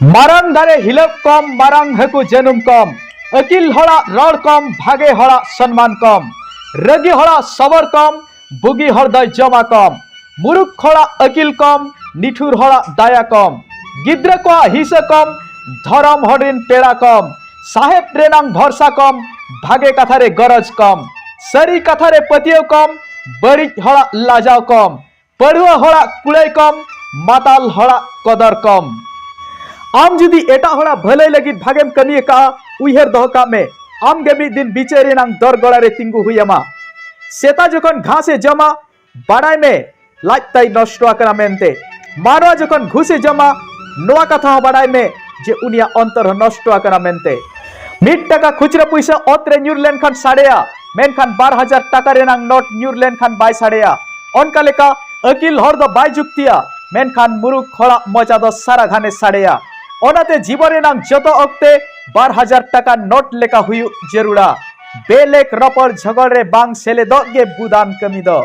ᱢᱟᱨᱟᱝ ᱫᱟᱨᱮ ᱦᱤᱞᱟᱹᱯ ᱠᱚᱢ ᱢᱟᱨᱟᱝ ᱦᱟᱹᱠᱩ ᱡᱟᱹᱱᱩᱢ ᱠᱚᱢ ᱟᱹᱠᱤᱞ ᱦᱚᱲᱟᱜ ᱨᱚᱲ ᱠᱚᱢ ᱵᱷᱟᱜᱮ ᱦᱚᱲᱟᱜ ᱥᱚᱱᱢᱟᱱ ᱠᱚᱢ ᱨᱟᱹᱜᱤ ᱦᱚᱲᱟᱜ ᱥᱚᱵᱚᱨ ᱠᱚᱢ ᱵᱩᱜᱤ ᱦᱚᱲ ᱫᱚᱭ ᱡᱚᱢᱟ ᱠᱚᱢ ᱢᱩᱨᱩᱠ ᱦᱚᱲᱟᱜ ᱟᱹᱠᱤᱞ ᱠᱚᱢ ᱱᱤᱴᱷᱩᱨ ᱦᱚᱲᱟᱜ ᱫᱟᱭᱟ ᱠᱚᱢ ᱜᱤᱫᱽᱨᱟᱹ ᱠᱚᱣᱟᱜ ᱦᱤᱥᱟᱹ ᱠᱚᱢ ᱫᱷᱚᱨᱚᱢ ᱦᱚᱲ ᱨᱤᱱ ᱯᱮᱲᱟ ᱠᱚᱢ ᱥᱟᱦᱮᱵ ᱨᱮᱱᱟᱝ ᱵᱷᱚᱨᱥᱟ ᱠᱚᱢ ᱵᱷᱟᱜᱮ ᱠᱟᱛᱷᱟ ᱨᱮ ᱜᱚᱨᱚᱡᱽ ᱠᱚᱢ ᱥᱟᱹᱨᱤ ᱠᱟᱛᱷᱟ ᱨᱮ ᱯᱟᱹᱛᱭᱟᱹᱣ ᱠᱚᱢ ᱵᱟᱹᱲᱤᱡ ᱦᱚᱲᱟᱜ ᱞᱟᱡᱟᱣ ᱠᱚᱢ ᱯᱟᱹᱲᱩᱣᱟᱹ ᱦᱚᱲᱟᱜ ᱠᱩᱲᱟᱹᱭ ᱠᱚᱢ ᱢᱟᱛᱟᱞ ᱦᱚᱲᱟᱜ ᱠᱚᱫᱚᱨ ᱠᱚᱢ ᱟᱢ ᱡᱩᱫᱤ ᱮᱴᱟᱜ ᱦᱚᱲᱟᱜ ᱵᱷᱟᱹᱞᱟᱹᱭ ᱞᱟᱹᱜᱤᱫ ᱵᱷᱟᱜᱮᱢ ᱠᱟᱹᱢᱤ ᱟᱠᱟᱫᱼᱟ ᱩᱭᱦᱟᱹᱨ ᱫᱚᱦᱚ ᱠᱟᱜ ᱢᱮ ᱟᱢ ᱜᱮ ᱢᱤᱫ ᱫᱤᱱ ᱵᱤᱪᱟᱹᱨ ᱨᱮᱱᱟᱝ ᱫᱚᱨ ᱜᱚᱲᱟ ᱨᱮ ᱛᱤᱸᱜᱩ ᱦᱩᱭ ᱟᱢᱟ ᱥᱮᱛᱟ ᱡᱚᱠᱷᱚᱱ ᱜᱷᱟᱥ ᱮ ᱡᱚᱢᱟ ᱵᱟᱰᱟᱭ ᱢᱮ ᱞᱟᱡ ᱛᱟᱭ ᱱᱚᱥᱴᱚ ᱟᱠᱟᱱᱟ ᱢᱮᱱᱛᱮ ᱢᱟᱱᱣᱟ ᱡᱚᱠᱷᱚᱱ ᱜᱷᱩᱥ ᱮ ᱡᱚᱢᱟ ᱱᱚᱣᱟ ᱠᱟᱛᱷᱟ ᱦᱚᱸ ᱵᱟᱰᱟᱭ ᱢᱮ ᱡᱮ ᱩᱱᱤᱭᱟᱜ ᱚᱱᱛᱚᱨ ᱦᱚᱸ ᱱᱚᱥᱴᱚ ᱟᱠᱟᱱᱟ ᱢᱮᱱᱛᱮ ᱢᱤᱫ ᱴᱟᱠᱟ ᱠᱷᱩᱪᱨᱟᱹ ᱯᱩᱭᱥᱟᱹ ᱚᱛ ᱨᱮ ᱧᱩᱨ ᱞᱮᱱᱠᱷᱟᱱ ᱥᱟᱰᱮᱭᱟ ᱢᱮᱱᱠᱷᱟᱱ ᱵᱟᱨ ᱦᱟᱡᱟᱨ ᱴᱟᱠᱟ ᱨᱮᱱᱟᱝ ᱱᱳᱴ ᱧᱩᱨ ᱞᱮᱱᱠᱷᱟᱱ ᱵᱟᱭ ᱥᱟᱰᱮᱭᱟ ᱚᱱᱠᱟ ᱞᱮᱠᱟ ᱟᱹᱠᱤᱞ ᱦᱚᱲ ᱫᱚ ᱵᱟᱭ ᱡᱩᱠᱛᱤᱭᱟ ᱢᱮᱱᱠᱷᱟᱱ ᱢᱩᱨᱩᱠ ᱦᱚᱲᱟᱜ ᱢᱚᱡᱟ ᱫᱚ ᱥᱟᱨᱟ ᱜᱷᱟᱱᱮ ᱥᱟᱰᱮᱭᱟ ᱚᱱᱟᱛᱮ ᱡᱤᱵᱚᱱ ᱨᱮᱱᱟᱝ ᱡᱚᱛᱚ ᱚᱠᱛᱮ ᱵᱟᱨ ᱦᱟᱡᱟᱨ ᱴᱟᱠᱟ ᱱᱳᱴ ᱞᱮᱠᱟ ᱦᱩᱭᱩᱜ ᱡᱟᱹᱨᱩᱲᱟ ᱵᱮᱞᱮᱠ ᱨᱚᱯᱚᱲ ᱡᱷᱚᱜᱚᱲ ᱨᱮ ᱵᱟᱝ ᱥᱮᱞᱮᱫᱚᱜ ᱜᱮ ᱵᱩᱫᱟᱱ ᱠᱟᱹᱢᱤ ᱫᱚ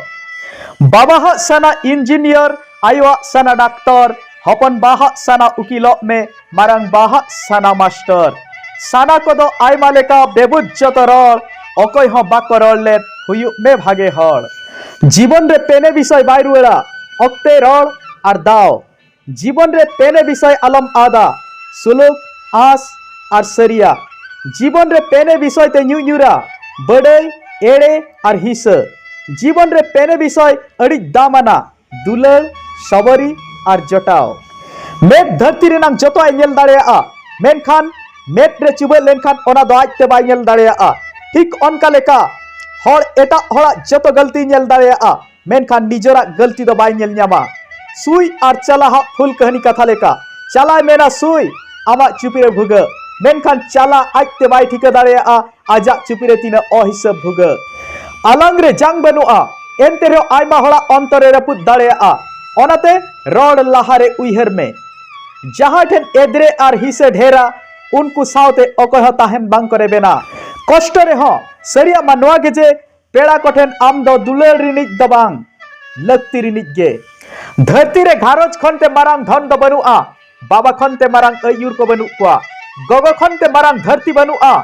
ᱵᱟᱵᱟᱦᱟᱜ ᱥᱟᱱᱟ ᱤᱧᱡᱤᱱᱤᱭᱟᱨ ᱟᱭᱳᱣᱟᱜ ᱥᱟᱱᱟ ᱰᱟᱠᱛᱚᱨ ᱦᱚᱯᱚᱱ ᱵᱟᱦᱟᱜ ᱥᱟᱱᱟ ᱩᱠᱤᱞᱚᱜ ᱢᱮ ᱢᱟᱨᱟᱝ ᱵᱟᱦᱟᱜ ᱥᱟᱱᱟ ᱢᱟᱥᱴᱟᱨ ᱥᱟᱱᱟ ᱠᱚᱫᱚ ᱟᱭᱢᱟ ᱞᱮᱠᱟ ᱵᱮᱵᱩᱡ ᱡᱚᱛᱚ ᱨᱚᱲ ᱚᱠᱚᱭ ᱦᱚᱸ ᱵᱟᱠᱚ ᱨᱚᱲ ᱞᱮᱫ ᱦᱩᱭᱩᱜ ᱢᱮ ᱵᱷᱟᱜᱮ ᱦᱚᱲ ᱡᱤᱵᱚᱱ ᱨᱮ ᱯᱮᱱᱮ ᱵᱤᱥᱚᱭ ᱵᱟᱭ ᱨᱩᱣᱟᱹᱲᱟ ᱚᱠᱛᱮ ᱨᱚᱲ ᱟᱨ ᱫᱟᱣ ᱡᱤᱵᱚᱱ ᱨᱮ ᱯᱮᱱᱮ ᱵᱤᱥᱚᱭ ᱟᱞᱚᱢ ᱟᱫᱟ ᱥᱩᱞᱩᱠ ᱟᱸᱥ ᱟᱨ ᱥᱟᱹᱨᱤᱭᱟ ᱡᱤᱵᱚᱱ ᱨᱮ ᱯᱮᱱᱮ ᱵᱤᱥᱚᱭ ᱛᱮ ᱧᱩ ᱧᱩᱨᱟ ᱵᱟᱹᱰᱟᱹᱭ ᱮᱲᱮ ᱟᱨ ᱦᱤᱥᱟᱹ ᱡᱤᱵᱚᱱ ᱨᱮ ᱯᱮᱱᱮ ᱵᱤᱥᱚᱭ ᱟᱹᱰᱤ ᱫᱟᱢᱟᱱᱟ ᱫᱩᱞᱟᱹᱲ ᱥᱟᱵᱟᱨᱤ ᱟᱨ ᱡᱚᱴᱟᱣ ᱢᱮᱫ ᱫᱷᱟᱹᱨᱛᱤ ᱨᱮᱱᱟᱜ ᱡᱚᱛᱚᱣᱟᱜ ᱮ ᱧᱮᱞ ᱫᱟᱲᱮᱭᱟᱜᱼᱟ ᱢᱮᱱᱠᱷᱟᱱ ᱢᱮᱫ ᱨᱮ ᱪᱩᱵᱟᱹᱜ ᱞᱮᱱᱠᱷᱟᱱ ᱚᱱᱟ ᱫᱚ ᱟᱡᱛᱮ ᱵᱟᱭ ᱧᱮᱞ ᱫᱟᱲᱮᱭᱟᱜᱼᱟ ᱴᱷᱤᱠ ᱚᱱᱠᱟ ᱞᱮᱠᱟ ᱦᱚᱲ ᱮᱴᱟᱜ ᱦᱚᱲᱟᱜ ᱡᱚᱛᱚ ᱜᱟᱹᱞᱛᱤ ᱧᱮᱞ ᱫᱟᱲᱮᱭᱟᱜᱼᱟ ᱢᱮᱱᱠᱷᱟᱱ ᱱᱤᱡᱮᱨᱟᱜ ᱜᱟᱹᱞᱛᱤ ᱫᱚ ᱵᱟᱭ ᱧᱮᱞ ᱧᱟᱢᱟ ᱥᱩᱭ ᱟᱨ ᱪᱟᱞᱟᱦᱟᱜ ᱯᱷᱩᱞ ᱠᱟᱹᱦᱱᱤ ᱠᱟᱛᱷᱟ ᱞᱮᱠᱟ ᱪᱟᱞᱟᱭ ᱢᱮᱱᱟ ᱥᱩᱭ ᱟᱢᱟᱜ ᱪᱩᱯᱤ ᱨᱮ ᱵᱷᱩᱜᱟᱹᱜ ᱢᱮᱱᱠᱷᱟᱱ ᱪᱟᱞᱟ ᱟᱡᱛᱮ ᱵᱟᱭ ᱴᱷᱤᱠᱟᱹ ᱫᱟᱲᱮᱭᱟᱜᱼᱟ ᱟᱡᱟᱜ ᱪᱩᱯᱤ ᱨᱮ ᱛᱤᱱᱟᱹᱜ ᱚᱦᱤᱥᱟᱹᱵ ᱵᱷᱩᱜᱟᱹᱜ ᱟᱞᱟᱝ ᱨᱮ ᱡᱟᱝ ᱵᱟᱹᱱᱩᱜᱼᱟ ᱮᱱᱛᱮ ᱨᱮᱦᱚᱸ ᱟᱭᱢᱟ ᱦᱚᱲᱟᱜ ᱚᱱᱛᱚᱨ ᱨᱮ ᱨᱟᱹᱯᱩᱫ ᱫᱟᱲᱮᱭᱟᱜᱼᱟ ᱚᱱᱟᱛᱮ ᱨᱚᱲ ᱞᱟᱦᱟ ᱨᱮ ᱩᱭᱦᱟᱹᱨ ᱢᱮ ᱡᱟᱦᱟᱸ ᱴᱷᱮᱱ ᱮᱫᱽᱨᱮ ᱟᱨ ᱦᱤᱥᱟᱹ ᱰᱷᱮᱨᱟ ᱩᱱᱠᱩ ᱥᱟᱶᱛᱮ ᱚᱠᱚᱭ ᱦᱚᱸ ᱛᱟᱦᱮᱱ ᱵᱟᱝ ᱠᱚ ᱨᱮᱵᱮᱱᱟ ᱠᱚᱥᱴᱚ ᱨᱮᱦᱚᱸ ᱥᱟᱹᱨᱤᱭᱟᱜ ᱢᱟ ᱱᱚᱣᱟ ᱜᱮ ᱡᱮ ᱯᱮᱲᱟ ᱠᱚᱴᱷᱮᱱ ᱟᱢ ᱫᱚ ᱫᱩᱞᱟᱹᱲ ᱨᱤᱱᱤᱡ ᱫᱚ ᱵᱟᱝ ᱞᱟᱹᱠᱛᱤ ᱨᱤᱱᱤᱡ ᱜᱮ ᱫᱷᱟᱹᱨᱛᱤ ᱨᱮ ᱜᱷᱟᱨᱚᱸᱡᱽ ᱠᱷᱚᱱ ᱛᱮ ᱢᱟᱨᱟᱝ ᱫᱷᱚᱱ ᱫᱚ ᱵᱟᱹᱱᱩᱜᱼᱟ ᱵᱟᱵᱟ ᱠᱷᱚᱱ ᱛᱮ ᱢᱟᱨᱟᱝ ᱟᱹᱭᱩᱨ ᱠᱚ ᱵᱟᱹᱱᱩᱜ ᱠᱚᱣᱟ ᱜᱚᱜᱚ ᱠᱷᱚᱱ ᱛᱮ ᱢᱟᱨᱟᱝ ᱫᱷᱟᱹᱨᱛᱤ ᱵᱟᱹᱱᱩᱜᱼᱟ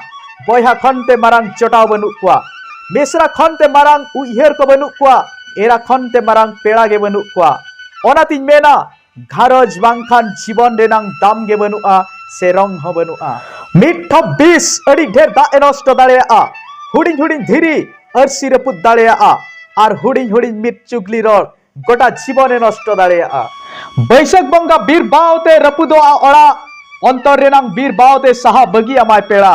ᱵᱚᱭᱦᱟ ᱠᱷᱚᱱ ᱛᱮ ᱢᱟᱨᱟᱝ ᱪᱚᱴᱟᱣ ᱵᱟᱹᱱᱩᱜ ᱠᱚᱣᱟ ᱢᱤᱥᱨᱟ ᱠᱷᱚᱱ ᱛᱮ ᱢᱟᱨᱟᱝ ᱩᱭᱦᱟᱹᱨ ᱠᱚ ᱵᱟᱹᱱᱩᱜ ᱠᱚᱣᱟ ᱮᱨᱟ ᱠᱷᱚᱱ ᱛᱮ ᱢᱟᱨᱟᱝ ᱯᱮᱲᱟ ᱜᱮ ᱵᱟᱹᱱᱩᱜ ᱠᱚᱣᱟ ᱚᱱᱟᱛᱤᱧ ᱢᱮᱱᱟ ᱜᱷᱟᱨᱚᱸᱡᱽ ᱵᱟᱝᱠᱷᱟᱱ ᱡᱤᱵᱚᱱ ᱨᱮᱱᱟᱝ ᱫᱟᱢ ᱜᱮ ᱵᱟᱹᱱᱩᱜᱼᱟ ᱥᱮ ᱨᱚᱝ ᱦᱚᱸ ᱵᱟᱹᱱᱩᱜᱼᱟ ᱢᱤᱫ ᱴᱷᱚᱯ ᱵᱤᱥ ᱟᱹᱰᱤ ᱰᱷᱮᱨ ᱫᱟᱜ ᱮ ᱱᱚᱥᱴᱚ ᱫᱟᱲᱮᱭᱟᱜᱼᱟ ᱦᱩᱰᱤᱧ ᱦᱩᱰᱤᱧ ᱫᱷᱤᱨᱤ ᱟᱹᱨᱥᱤ ᱨᱟᱹᱯᱩᱫ ᱫᱟᱲᱮᱭᱟᱜᱼᱟ ᱟᱨ ᱦᱩᱰᱤᱧ ᱦᱩᱰᱤᱧ ᱢᱤᱫ ᱪᱩᱜᱽᱞᱤ ᱨᱚᱲ ᱜᱚᱴᱟ ᱡᱤᱵᱚᱱ ᱮ ᱱᱚᱥᱴᱚ ᱫᱟᱲᱮᱭᱟᱜᱼᱟ ᱵᱟᱹᱭᱥᱟᱹᱠᱷ ᱵᱚᱸᱜᱟ ᱵᱤᱨ ᱵᱟᱣᱛᱮ ᱨᱟᱹᱯᱩᱫᱚᱜᱼᱟ ᱚᱲᱟᱜ ᱚᱱᱛᱚᱨ ᱨᱮᱱᱟᱝ ᱵᱤᱨ ᱵᱟᱣᱛᱮ ᱥᱟᱦᱟ ᱵᱟᱹᱜᱤ ᱟᱢᱟᱭ ᱯᱮᱲᱟ